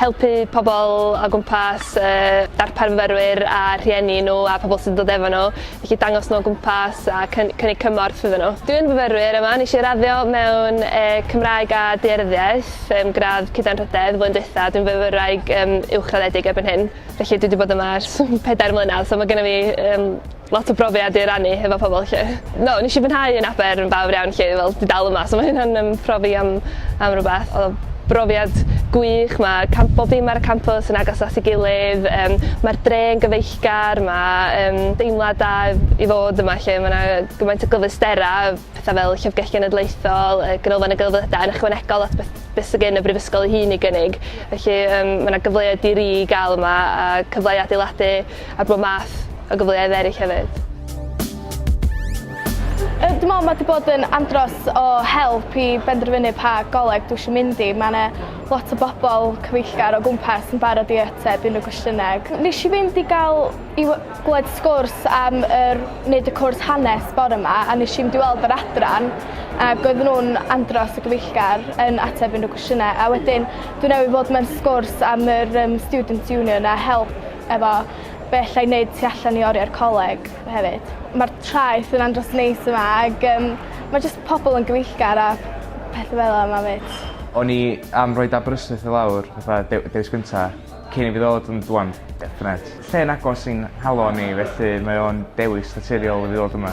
helpu pobl o gwmpas, darpar myfyrwyr a rhieni nhw a pobl sy'n dod efo nhw, felly dangos nhw o gwmpas a cynnig cymorth iddyn nhw. Dwi'n fyfyrwyr yma, nes i raddio mewn Cymraeg a Daearyddiaeth, gradd Cyd-anrhydedd, flwyddyn diwetha', dwi'n fyfyrwraig uwchraddedig erbyn hyn, felly dwi 'di bod yma ers pedair mlynedd, so ma' gynna fi Lot o brofiad i rannu hefo pobl 'lly. No, nes i fwynhau yn Aber yn fawr iawn 'lly, fel dwi dal yma so ma' hynna'n yym profi am am rwbath. O'dd o'n brofiad gwych, ma' camp- bob dim ar y campws yn agos at ei gilydd, yym ma'r dre yn gyfeillgar, ma' yym deimlad da i fod yma 'lly, ma' 'na gymaint o gyfleustera, petha fel Llyfrgell Genedlaethol, yy Ganolfan y Gelfyddydau yn ychwanegol at beth beth sy gen y Brifysgol ei hun i gynnig, felly yym ma' 'na gyfleoedd di-ri i ga'l yma a cyfle i adeiladu ar bob math o gyfleoedd eraill hefyd. Yy dwi me'wl ma' 'di bod yn andros o help i benderfynu pa goleg dwi isio mynd i. Ma' 'na lot o bobol cyfeillgar o gwmpas yn barod i ateb unryw gwestiyne ag nesh i fynd i ga'l i we- glwed sgwrs am yr neud y cwrs hanes bore 'ma a nesh i mynd i weld yr adran ag oedden nw'n andros o gyfeillgar yn ateb unryw cwestiyne a wedyn dwi newydd fod mewn sgwrs am yr yym students union a help efo be' allai neud tu allan i oriau'r coleg hefyd. Ma'r traeth yn andros neis yma ag yym ma' jyst pobol yn gyfeillgar a pethe fel 'a 'ma 'fyd. O'n i am roid Aberystwyth i lawr fatha dew- dewis gynta cyn i fi ddod ond ŵan definate. Lle'n agos i'n halo ni felly mae o'n dewis naturiol i fi ddod yma.